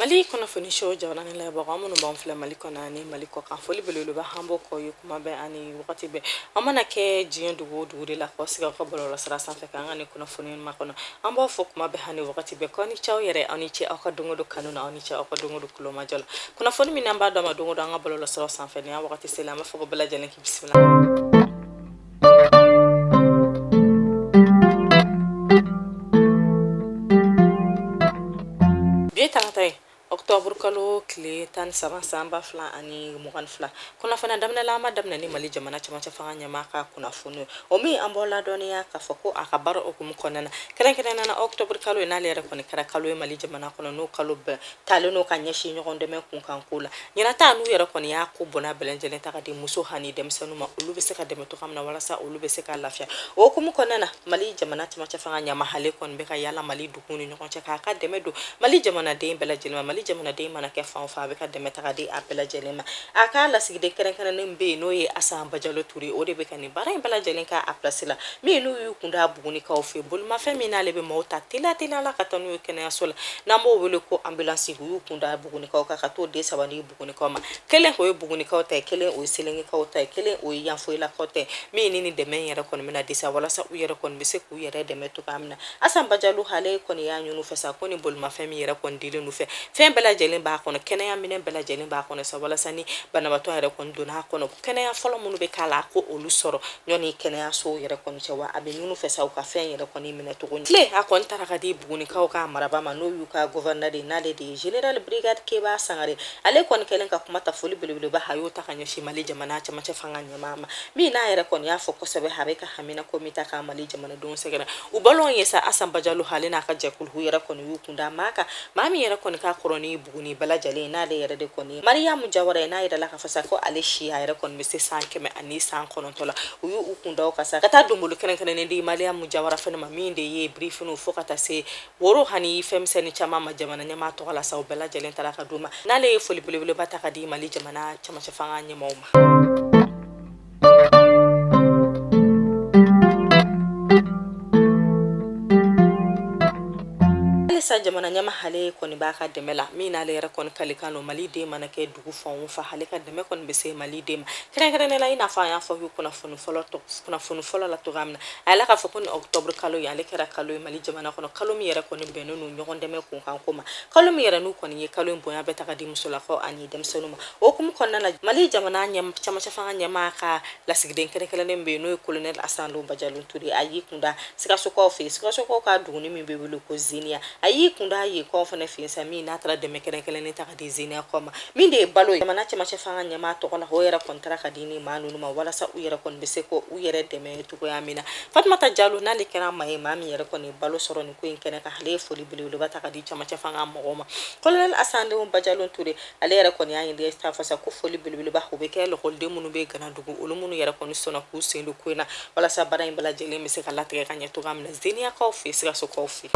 Mali kunnafoni show jamana ni lamɛnbagaw minnu b'an filɛ mali kɔnɔ ani mali kɔkan foli belebeleba an b'o k'aw ye kuma bɛɛ ani wagati bɛɛ aw mana kɛ diɲɛ dugu o dugu de la k'aw sigi an ka bɔlɔlɔ sira sanfɛ ka an ka nin kunnafoni makɔnɔ an b'a fɔ kuma bɛɛ ani wagati bɛɛ k'aw ni ce aw yɛrɛ aw ni ce aw ka don o don kanu na aw ni ce aw ka don o don tulomajɔ la kunnafoni min an b'a d'aw ma don o don an ka bɔlɔlɔ sira sanfɛ ni an wagati selen an b'a fɔ bɛɛ lajɛlen kɛ Bi ye tarata ye octobre kalo tile tan ni saba san ba fila ani mugan ni fila kunnafoni a daminɛ la an b'a daminɛ ni mali jamana cɛmancɛ fanga ɲɛmaa ka kunnafoni ye o min an b'o ladɔnniya k'a fɔ ko a ka baara o hukumu kɔnɔna na kɛrɛnkɛrɛnnana octobre kalo in n'ale yɛrɛ kɔni kɛra kalo ye mali jamana kɔnɔ n'o kalo bɛɛ talen don ka ɲɛsin ɲɔgɔn dɛmɛ kunkanko la ɲinan ta n'u yɛrɛ kɔni y'a ko bonya bɛɛ lajɛlen ta ka di muso hani denmisɛnninw ma olu bɛ se ka dɛmɛ cogoya min na walasa olu bɛ se ka lafiya o hukumu kɔnɔna na mali jamana cɛmancɛ fanga ɲɛmaa hale kɔni bɛ ka yaala mali duguw ni ɲɔgɔn cɛ k'a ka dɛmɛ don mali jamanaden bɛɛ lajɛlen ma mali jamanaden mana kɛ fan o fan a b'a ka dɛmɛ ta ka di a bɛɛ lajɛlen ma a ka lasigiden kɛrɛnkɛrɛnnen bɛ yen n'o ye asan bajalo ture o de bɛ ka baara in bɛɛ lajɛlen kɛ a pilasi la min n'u y'u kun da bugunikaw fɛ bolimafɛn min n'ale bɛ maaw ta teliya teliya la ka taa n'u ye kɛnɛyaso la n'an b'o wele ko ambulansi u y'u kun da bugunikaw kan ka t'o den saba di bugunikaw ma kelen o ye bugunikaw ta ye kelen o ye selengekaw ta ye kelen o ye yanfoyilakaw ta ye min ni nin dɛmɛ in yɛrɛ kɔni bɛna di sa walasa u yɛrɛ kɔni bɛ se k'u yɛrɛ dɛmɛ cogoya min na asan bajalo hale kɔni y'a ɲini u fɛ sa ko nin bolimafɛn min yɛrɛ kɔni dilen n'u fɛ fɛn bɛɛ lajɛlen b'a kɔnɔ kɛnɛya minɛn bɛɛ lajɛlen b'a kɔnɔ sa walasa ni banabaatɔ yɛrɛ kɔni donna a kɔnɔ kɛnɛya fɔlɔ minnu bɛ k'a la ko olu sɔrɔ yen ni kɛnɛyasow yɛrɛ kɔni cɛ wa a b'a ɲini u fɛ sa u ka fɛn yɛrɛ kɔni minɛ cogo kile a kɔni taara ka di bugunikaw ka marabaa ma n'o y'u ka gɔvɛrɛnɛ de n'ale de ye general brigade keba sangare ale kɔni kɛlen ka kuma ta foli belebeleba a y'o ta ka ɲɛsin mali jamana cɛmancɛ fanga ɲɛmaa ma min n'a yɛrɛ kɔni y'a fɔ kosɛbɛ a b'a ka haminanko min ta ka mali jamanadenw sɛgɛrɛ u b'a lɔn a ye sa asan bajalo hale n'a ka jɛkulu yɛrɛ kɔni y'u kun da maa kan maa min yɛrɛ kɔni ka kɔrɔ ni Buguni bɛɛ lajɛlen ye n'ale yɛrɛ de kɔni mariyamu jawara ye n'a yirala k'a fɔ sa ko ale si a yɛrɛ kɔni bɛ se san kɛmɛ ani san kɔnɔntɔ la u y'u kun da o kan sa ka taa donbolo kɛrɛnkɛrɛnnen di mariyamu jawara fana ma min de ye birifiniw fo ka taa se woro hani fɛnmisɛnnin caman ma jamana ɲɛmaa tɔgɔ la sa u bɛɛ lajɛlen taara ka d'u ma n'ale ye foli belebeleba ta ka di mali jamana cɛmancɛ fanga ɲɛmaw ma halisa jamana ɲɛmaa hale kɔni b'a ka dɛmɛ la min n'ale yɛrɛ kɔni kalikan don mali den mana kɛ dugu fan o fan hale ka dɛmɛ kɔni bɛ se mali den ma kɛrɛnkɛrɛnnenya la i n'a fɔ an y'a fɔ aw ye kunnafoni fɔlɔ la cogoya min na a yirala k'a fɔ ko nin octobre kalo in ale kɛra kalo ye mali jamana kɔnɔ kalo min yɛrɛ kɔni bɛnnen don ɲɔgɔn dɛmɛ kunkan ko ma kalo min yɛrɛ n'u kɔni ye kalo in bonya bɛɛ ta ka di musolakaw ani denmisɛnninw ma o hukumu kɔnɔna na mali jamana camancɛ fanga ɲɛmaa ka lasigiden kɛrɛnkɛrɛnnen bɛ yen n'o ye kolonɛli asan bajalo ture a y'i kunda sikasokaw fɛ yen sikasokaw ka duguni min bɛ wele ko zeniya a y'i kunda yenkaw fana fɛ yen sa min n'a taara dɛmɛ kɛrɛnkɛrɛnnen ta ka di zeniyakaw ma min de ye balo ye jamana camancɛ fanga ɲɛmaa tɔgɔ la o yɛrɛ kɔni tara ka di ni maa ninnu ma walasa u yɛrɛ kɔni bɛ se k'u yɛrɛ dɛmɛ cogoya min na fatumata jalo n'ale kɛra maa ye maa min yɛrɛ kɔni balo sɔrɔ nin ko in kɛnɛ kan ale ye foli belebeleba ta ka di camancɛ fanga mɔgɔw ma kolonɛl asan bajalo ture ale yɛrɛ kɔni y'a ɲini leta fɛ sa ko foli belebeleba o bɛ kɛ lɔkɔliden minnu bɛ ganadugu olu minnu yɛrɛ kɔni sɔnna k'u sen don ko in na walasa baara in bɛɛ lajɛlen bɛ se ka latigɛ ka ɲɛ cogoya min na zeniyakaw fɛ sikasokaw fɛ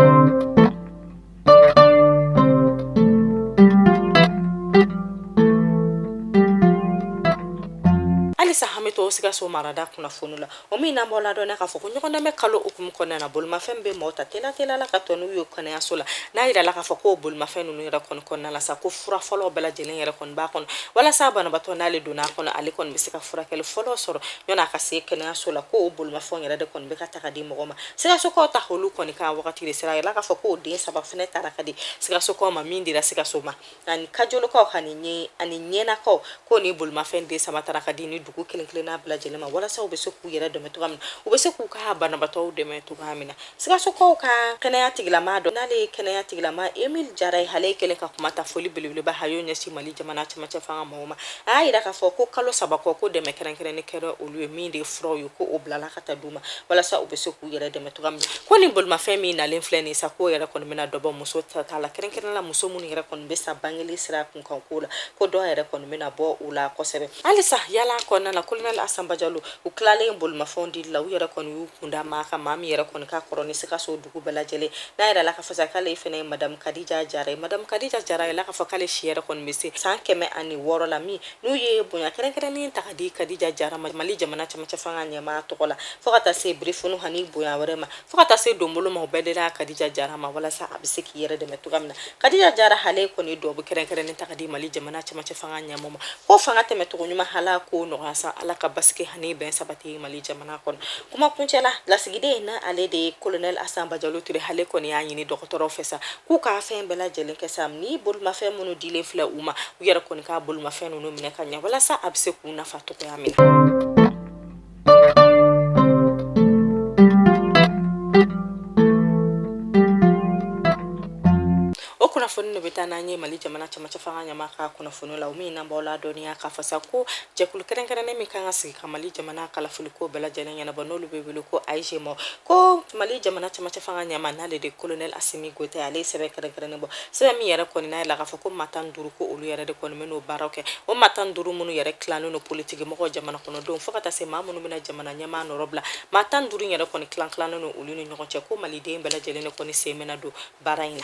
halisa an bɛ to sikaso marada kunnafoni la o min n'an b'aw ladɔnniya k'a fɔ ko ɲɔgɔndɛmɛ kalo hukumu kɔnɔna na bolimafɛn bɛ mɔgɔ ta teliya la ka taa n'u ye kɛnɛyaso la n'a yirala k'a fɔ k'o bolimafɛn ninnu yɛrɛ kɔni kɔnɔna la sa ko fura fɔlɔ bɛɛ lajɛlen yɛrɛ kɔni b'a kɔnɔ walasa banabaatɔ n'ale donna a kɔnɔ ale kɔni bɛ se ka furakɛli fɔlɔ sɔrɔ yanni a ka se kɛnɛyaso la k'o bolimafɛn yɛrɛ de kɔni bɛ ka ta ka di mɔgɔ ma sikasokaw ta olu kɔni ka wagati de sera a yirala k'a fɔ k'o den saba fɛnɛ tara ka di sikasokaw ma min dira sikaso ma ani kajolokaw ani ɲɛ ani ɲɛnakaw ko ni bolimafɛn de saba tara ka di ni dugu kelen kelen n'a bɛɛ lajɛlen ma walasa u bɛ se k'u yɛrɛ dɛmɛ cogoya min u bɛ se k'u ka banabaatɔw dɛmɛ cogoya min na sikasokaw ka kɛnɛya tigilama dɔ n'ale ye kɛnɛya tigilama emil jara ye ale kɛlen ka kuma ta foli belebeleba ha y'o ɲɛsin mali jamana cɛmancɛ fanga mɔgɔw ma a y'a yira k'a fɔ ko kalo saba kɔ ko dɛmɛ kɛrɛnkɛrɛnnen kɛra olu ye min de furaw ye ko o bilala ka taa u ma walasa u bɛ se k'u yɛrɛ dɛmɛ cogoya min na ko ni bolimafɛn min nalen filɛ nin sa k'o yɛrɛ kɔni bɛna dɔ bɔ muso sata la kɛrɛnkɛrɛn la muso minnu yɛrɛ kɔni bɛ sa bangeli sira kun kan ko la ko dɔ yɛrɛ kɔni bɛna bɔ u la kosɛbɛ halisa yaala kɔnɔna na kolonɛli asan bajalo u tilalen bolimafɛnw dili la u yɛrɛ kɔni y'u kunda maa kan maa min yɛrɛ kɔni ka kɔrɔ ni sikaso dugu bɛɛ lajɛlen n'a yirala k'a fɔ sa k'ale fɛnɛ ye madamu kadija jara ye madamu kadija jara yirala k'a fɔ k'ale si yɛrɛ kɔni bɛ se san kɛmɛ ani wɔɔrɔ la min n'u ye bonya kɛrɛnkɛrɛnnen ta ka di kadija jara ma mali jamana camancɛ fanga ɲɛmaa tɔgɔ la fɔɔ ka taa se birifini hani bonya wɛrɛ ma fɔɔ ka taa se donbolo ma u bɛɛ dila kadija jara ma walasa a bɛ se k'i yɛrɛ dɛmɛ cogoya min na kadija jara hale kɔni dugawu kɛrɛnkɛrɛnnen ta ka di mali jamana camancɛ fanga ɲɛmaa ma ko fanga tɛmɛcogo ɲuman ala k'o nɔgɔya sa ala ka basigi hani bɛn sabati mali jamana kɔnɔ kuma kuncɛ la lasigiden n'ale de ye kolonɛl asan bajalo ture hale kɔni y'a ɲini dɔgɔtɔrɔw fɛ sa k'u ka fɛn bɛɛ lajɛlen kɛ sa ni bolimafɛn minnu dilen filɛ u ma u yɛrɛ kɔni ka bolimafɛn ninnu minɛ ka ɲɛ walasa a bɛ se k'u nafa cogoya min o kunnafoni de bɛ taa n'an ye mali jamana camancɛ fanga ɲɛmaa ka kunnafoni la o min n'an b'aw ladɔnniya k'a fɔ sa ko jɛkulu kɛrɛnkɛrɛnnen min kan ka sigi ka mali jamana kalafiliko bɛɛ lajɛlen ɲɛnabɔ n'olu bɛ wele ko aize ma ko mali jamana camancɛ fanga ɲɛmaa n'ale de kolonɛl asimi goyita ale ye sɛbɛn kɛrɛnkɛrɛnnen bɔ sɛbɛn min yɛrɛ kɔni n'a yirala k'a fɔ ko maa tan duuru ko olu yɛrɛ de kɔni bɛn'o baaraw kɛ o maa tan duuru minnu yɛrɛ tilannen don politiki mɔgɔw jamana kɔnɔdenw fo ka taa se maa minnu bɛna jamana ɲɛmaa nɔrɔ bila maa tan duuru yɛrɛ kɔni tilan tilannen don olu ni ɲɔgɔn cɛ ko maliden bɛɛ lajɛlen de kɔni sen bɛna don Baara in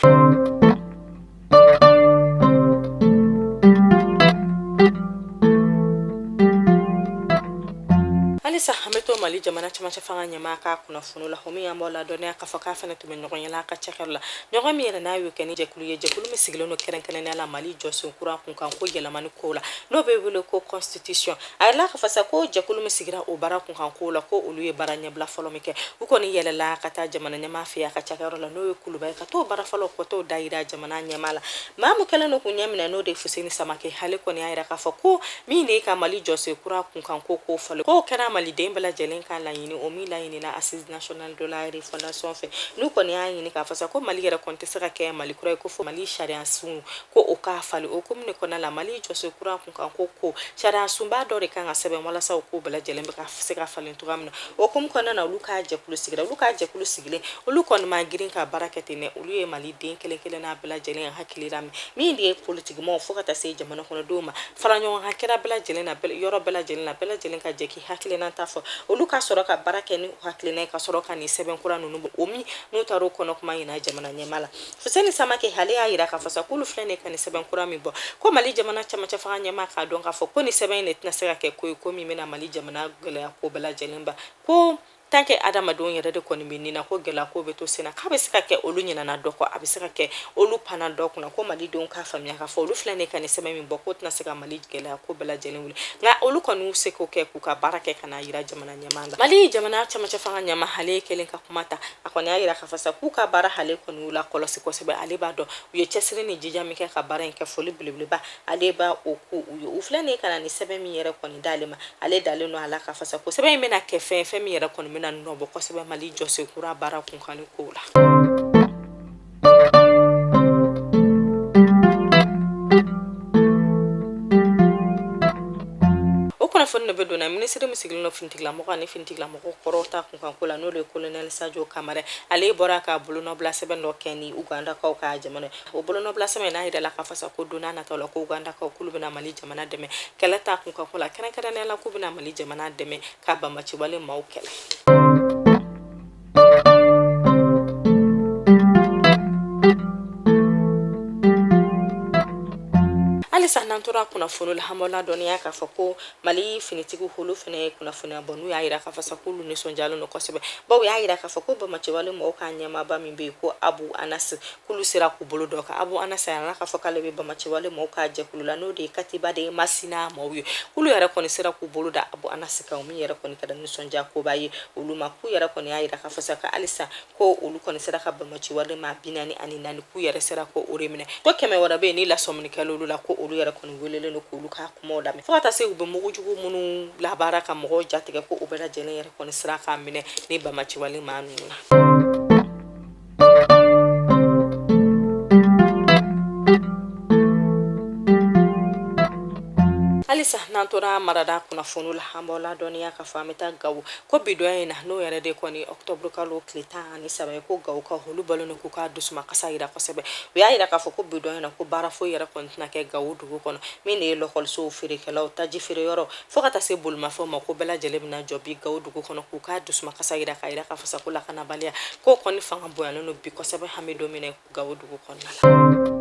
halisa an bɛ to mali jamana camancɛ fanga ɲɛmaa ka kunnafoni la o min an b'aw ladɔnniya k'a fɔ k'a fana tun bɛ ɲɔgɔnye la a ka cakɛyɔrɔ la ɲɔgɔnye min yɛrɛ n'a y'o kɛ ni jɛkulu ye jɛkulu min sigilen don kɛrɛnkɛrɛnnenya la mali jɔsen kura kunkanko yɛlɛmani kow la n'o bɛ wele ko constitution a yirala k'a fɔ sa ko jɛkulu min sigira o baara kunkanko la ko olu ye baara ɲɛbila fɔlɔ min kɛ u kɔni yɛlɛla ka taa jamana ɲɛmaa fɛ a ka cakɛyɔrɔ la n'o ye kuluba ye ka t'o baara fɔlɔ ka t'o da yira jamana ɲɛmaa la maa min kɛlen don k'u ɲɛ minɛ n'o de ye fuseni samake ale kɔni y'a yira k'a fɔ ko min de ye ka mali jɔsen kura kunkanko ko falen k'o kɛra maliden bɛɛ lajɛlen ka laɲini o min laɲinina assises nationales de la refondation fɛ n'u kɔni y'a ɲini k'a fɔ sa ko mali yɛrɛ kɔni tɛ se ka kɛ mali kura ye ko fo mali sariya sunko o ka falen o hukumu kɔnɔna la mali jɔsen kura kan ko ko sariya sunba dɔ de kan ka sɛbɛn walasa o ko bɛɛ lajɛlen bɛ ka se ka falen cogoya min na o hukumu kɔnɔna na olu ka jɛkulu sigira olu ka jɛkulu sigilen olu kɔni ma girin ka baara kɛ ten dɛ olu ye maliden kelen kelenna bɛɛ lajɛlen hakilila min de ye politikimɔgɔw fo ka taa se jamana kɔnɔdenw ma fara ɲɔgɔn kan kɛra bɛɛ lajɛlen na yɔrɔ bɛɛ lajɛlen na bɛɛ lajɛlen ka jɛ k'i hakilina ta fɔ olu ka sɔrɔ ka baara kɛ ni u hakilina ye ka sɔrɔ ka nin sɛbɛn kura ninnu bɔ o min n'u taara o kɔnɔkuma yira jamana ɲɛmaa la Fuseni Samake ale y'a yira k'a fɔ sa k'olu filɛ nin ka nin sɛbɛn kura min bɔ ko Mali jamana camancɛ fanga ɲɛmaa k'a dɔn k'a fɔ ko nin sɛbɛn in de tɛna se ka kɛ ko ye ko min bɛna Mali jamana gɛlɛya ko bɛɛ lajɛlen ban ko tant que adamadenw yɛrɛ de kɔni bɛ ni na ko gɛlɛya ko bɛ to senna k'a bɛ se ka kɛ olu ɲinana dɔ kɔ a bɛ se ka kɛ olu panna dɔ kunna ko malidenw k'a faamuya k'a fɔ olu filɛ nin ka nin sɛbɛn min bɔ k'o tɛna se ka mali gɛlɛya ko bɛɛ lajɛlen wuli nka olu kɔni y'u seko kɛ k'u ka baara kɛ ka n'a yira jamana ɲɛmaa la mali jamana camancɛ fanga ɲɛmaa ale yɛrɛ kɛlen ka kuma ta a kɔni y'a yira k'a fɔ sa k'u ka baara ale kɔni y'u lakɔlɔsi kosɛbɛ ale b'a dɔn u ye cɛsiri ni jija min kɛ ka baara in kɛ foli belebeleba ale b'o kɛ u ye u filɛ nin ka na ni sɛbɛn min yɛrɛ kɔni d'ale ma ale dalen don a la k'a fɔ sa ko sɛbɛn in bɛna kɛ fɛn fɛn min yɛrɛ kɔni bɛna nɔ bɔ kosɛbɛ mali jɔsen kura baara kunkanni kow la minisiri min sigilen don finitigilamɔgɔ ani finitigilamɔgɔ kɔrɔw ta kunkanko la n'o de ye kolonɛli sajo kamara ale bɔra ka bolonɔbila sɛbɛn dɔ kɛ ni ugandakaw ka jamana o bolonɔbila sɛbɛn n'a yirala k'a fɔ sa ko don nataw la ko ugandakaw k'olu bɛna mali jamana dɛmɛ kɛlɛ ta kunkanko la kɛrɛnkɛrɛnnenya la k'u bɛna mali jamana dɛmɛ ka banbaanciwale maaw kɛlɛ halisa n'an tora kunnafoni la an b'aw ladɔnniya k'a fɔ ko mali finitigiw olu fana ye kunnafoniya bɔ n'u y'a yira k'a fɔ sa k'olu nisɔndiyalen don kosɛbɛ bawo y'a yira k'a fɔ ko banbaciwale mɔgɔw ka ɲɛmaaba min bɛ yen ko abu anasi k'olu sera k'u bolo d'o kan abu anasi y'a la k'a fɔ k'ale bɛ banbaciwale mɔgɔw ka jɛkulu la n'o de ye katiba de masina mɔgɔw ye k'olu yɛrɛ kɔni sera k'u bolo da abu anasi kan min yɛrɛ kɔni kɛra nisɔndiya koba ye olu ma k'u yɛrɛ kɔni y'a yira k'a fɔ sa ka halisa ko olu kɔni sera ka banbaciwale maa bi naani ani naani k'u yɛrɛ sera ko o de minɛ ko kɛmɛ wɛrɛ bɛ yen ni lasɔminikɛla olu la ko olu yɛrɛ kɔni welelen don k'olu ka kumaw lamɛn fo ka taa se u bɛ mugu jugu minnu labaara ka mɔgɔw jatigɛ ko u bɛɛ lajɛlen yɛrɛ kɔni sera k'a minɛ ni banbaciwale maa ninnu na halisa n'an tora marada kunnafoni la an b'aw ladɔnniya k'a fɔ an bɛ taa gawo ko bi donya in na n'o yɛrɛ de kɔni ɔktɔburu kalo tile tan ani saba ye ko gawokaw olu bɔlen don k'u ka dusumakasi yira kosɛbɛ u y'a yira k'a fɔ ko bi donya in na ko baara foyi yɛrɛ kɔni tɛna kɛ gawo dugu kɔnɔ min de ye lɔkɔlisow feerekɛlaw taji feere yɔrɔ Fo ka taa se bolimafɛnw ma ko bɛɛ lajɛlen bɛna jɔ bi gawo dugu kɔnɔ k'u ka dusumakasi yira k'a yira k'a fɔ sa ko lakanabaliya k'o kɔni fanga bonyalen don bi kosɛbɛ hami don min na gawo dugu kɔnɔna la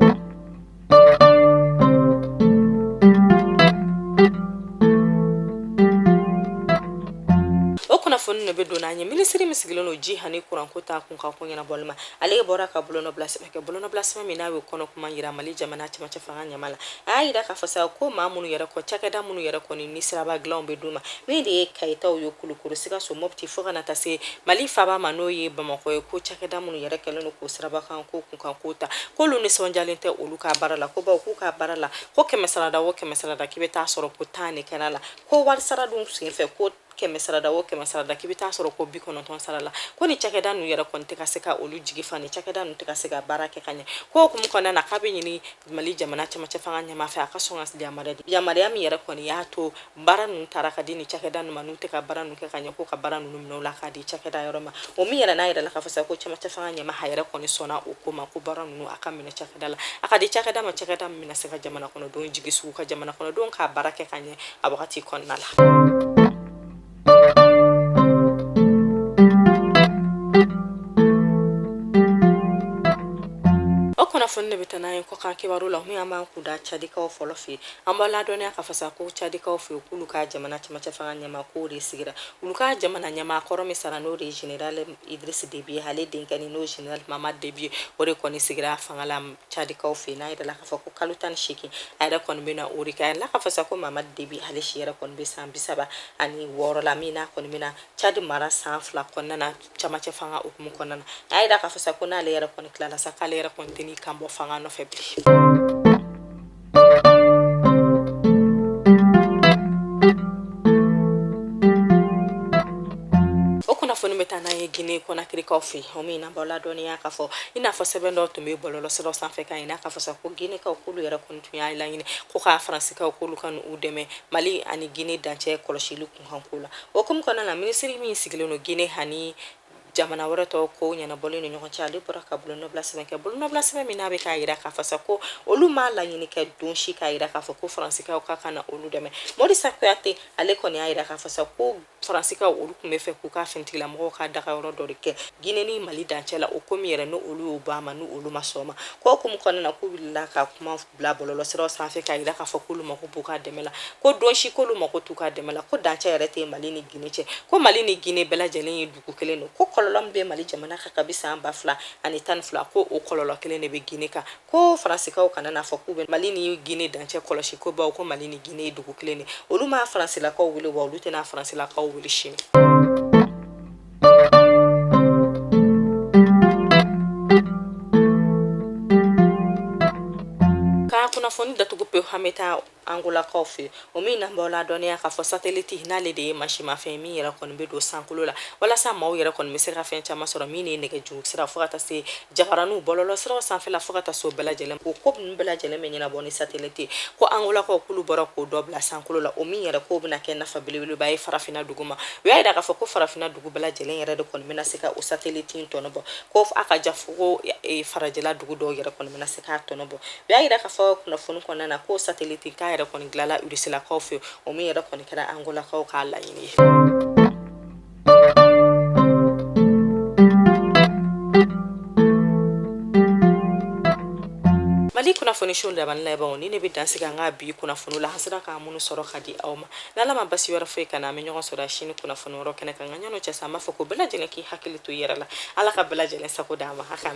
kunnafoni de bɛ don n'an ye minisiri min sigilen don ji ani kuranko ta kunkanko ɲɛnabɔli ma ale bɔra ka bolonɔbila sɛbɛn kɛ bolonɔbila sɛbɛn min n'a y'a kɔnɔkuma yira mali jamana cɛmancɛ fanga ɲɛmaa la a y'a yira k'a fɔ sa ko maa minnu yɛrɛ kɔ cakɛda minnu yɛrɛ kɔni ni siraba dilanw bɛ d'u ma min de ye kayitaw ye kulukɔrɔ sikaso mɔpti fo ka na taa se mali faaba ma n'o ye bamakɔ ye ko cakɛda minnu yɛrɛ kɛlen don k'o siraba kan ko kunkanko ta k'olu nisɔndiyalen tɛ olu ka baara la ko bawo k'u ka baara la ko kɛmɛsarada o kɛmɛsarada k'i bɛ taa sɔrɔ ko tan de kɛra la ko warisara dun senfɛ ko kɛmɛ sarada o kɛmɛ sarada k'i bɛ taa sɔrɔ ko bi kɔnɔntɔn sara la ko ni cakɛda ninnu yɛrɛ kɔni tɛ ka se ka olu jigi fa ni cakɛda ninnu tɛ ka se ka baara kɛ ka ɲɛ k'o hukumu kɔnɔna na k'a b'a ɲini mali jamana cɛmancɛ fanga ɲɛmaa fɛ a ka sɔn ka yamaruya di yamaruya min yɛrɛ kɔni y'a to baara ninnu taara ka di ni cakɛda ninnu ma n'u tɛ ka baara ninnu kɛ ka ɲɛ ko ka baara ninnu minɛ u la k'a di cakɛda wɛrɛ ma o min yɛrɛ n'a yirala k'a fɔ sa ko cɛmancɛ fanga ɲɛmaa a yɛrɛ kɔni sɔnna o ko ma ko baara ninnu a k'a minɛ cakɛda la a k'a di cakɛda ma cakɛda min bɛna se ka jamana kɔnɔdenw jigi tugu ka jamana kɔnɔdenw ka baara kɛ ka ɲɛ a wagati kɔnɔna la kunnafoni de bɛ taa n'an ye kɔkan kibaru la min an b'an kun da cadikaw fɔlɔ fɛ an b'aw ladɔnniya k'a fɔ sa ko cadikaw fɛ k'olu ka jamana cɛmancɛ fanga ɲɛmaa k'o de sigira olu ka jamana ɲɛmaa kɔrɔ min sara n'o de ye general idris debi ye ale denkɛ ni n'o ye general mahamat debi ye o de kɔni sigira fanga la cadikaw fɛ yen n'a yirala k'a fɔ ko kalo tan ni seegin a yɛrɛ kɔni bɛna o de kɛ a yirala k'a fɔ sa ko mamadu debi ale si yɛrɛ kɔni bɛ san bi saba ani wɔɔrɔ la min n'a kɔni bɛna cadi mara san fila kɔnɔna na cɛmancɛ fanga hukumu kɔnɔna na a y'a yira k'a fɔ sa ko n'ale yɛrɛ kɔni tilala sa k'ale yɛrɛ kɔni tɛ n'i kan bɔ fanga nɔfɛ bilen gine kɔnakirikaw fɛ yen o min n'an b'aw ladɔnniya k'a fɔ i n'a fɔ sɛbɛn dɔ tun bɛ bɔlɔlɔsiraw sanfɛ k'a yira k'a fɔ sa ko ginekaw k'olu yɛrɛ kɔni tun y'a laɲini ko k'a faransikaw k'olu ka n'u dɛmɛ mali ani gine dancɛ kɔlɔsili kunkanko la o hukumu kɔnɔna na minisiri min sigilen don gine ani jamana wɛrɛ tɔw ko ɲɛnabɔlen ni ɲɔgɔn cɛ ale bɔra ka bolonɔbila sɛbɛn kɛ bolonɔbila sɛbɛn min n'a bɛ k'a yira k'a fɔ sa ko olu m'a laɲini kɛ don si k'a yira k'a fɔ ko faransikaw ka ka na olu dɛmɛ morisa kuyate ale kɔni y'a yira k'a fɔ sa ko faransikaw olu tun bɛ fɛ k'u ka finitigilamɔgɔw ka dagayɔrɔ dɔ de kɛ gine ni mali dancɛ la o ko min yɛrɛ ni olu y'u ban a ma ni olu ma sɔn ma k'o hukumu kɔnɔna na k'u wulila ka kuma bila bɔlɔlɔsiraw sanfɛ k'a yira k'a fɔ k'olu mako b'u ka dɛmɛ la ko don si k'olu mako t'u ka dɛmɛ la ko dancɛ yɛrɛ tɛ mali ni gine cɛ ko mali ni gine bɛɛ lajɛlen ye dugu kelen don ko kɔlɔlɔ min bɛ mali jamana kan kabi san ba fila ani tan ni fila ko o kɔlɔlɔ kelen de bɛ gine kan ko faransikaw kana n'a fɔ k'u bɛ mali ni gine dancɛ kɔlɔsi ko bawo ko mali ni gine ye dugu kelen de olu ma faransilakaw wele wa olu tɛna faransilakaw wele sini Ka kunnafoni datugu pewu, an bɛ taa Angolakaw fɛ yen, o min n'an b'aw ladɔnniya k'a fɔ satellite n'ale de ye mansimafɛn ye min yɛrɛ kɔni bɛ don sankolo la walasa maaw yɛrɛ kɔni bɛ se ka fɛn caman sɔrɔ min ye nɛgɛjuru sira fo ka taa se Jabaraninw bɔlɔlɔsiraw sanfɛ fo ka taa se o bɛɛ lajɛlen o ko bɛɛ lajɛlen bɛ ɲɛnabɔ ni satellite in ko angolakaw k'olu bɔra k'o dɔ bila sankolo la o min yɛrɛ k'o bɛna kɛ nafa belebeleba ye farafinna dugu ma u y'a yira k'a fɔ ko farafinna dugu bɛɛ lajɛlen yɛrɛ de kɔni bɛna se ka o satellite in tɔnɔbɔ ko a ka ja fo ko e, farajɛla dugu dɔw yɛrɛ kɔni bɛna se k'a tɔnɔbɔ u y'a yira k'a fɔ kunnafoni kɔnɔna na ko satellite in k'a yɛrɛ kɔni dilanla urusilakaw fɛ o min yɛrɛ kɔni kɛra angolakaw ka laɲini ye mali kunnafoniso lamɛn ni lajɛbaw nin de bɛ dansigi an ka bi kunnafoni la an sera ka minnu sɔrɔ ka di aw ma n'ala ma basi wɛrɛ foyi k'an na an bɛ ɲɔgɔn sɔrɔ sini kunnafoni wɛrɛw kɛnɛ kan nka yann'o cɛ sa an b'a fɔ ko bɛɛ lajɛlen k'i hakili to i yɛrɛ la ala ka bɛɛ lajɛlen sago d'an ma a k'an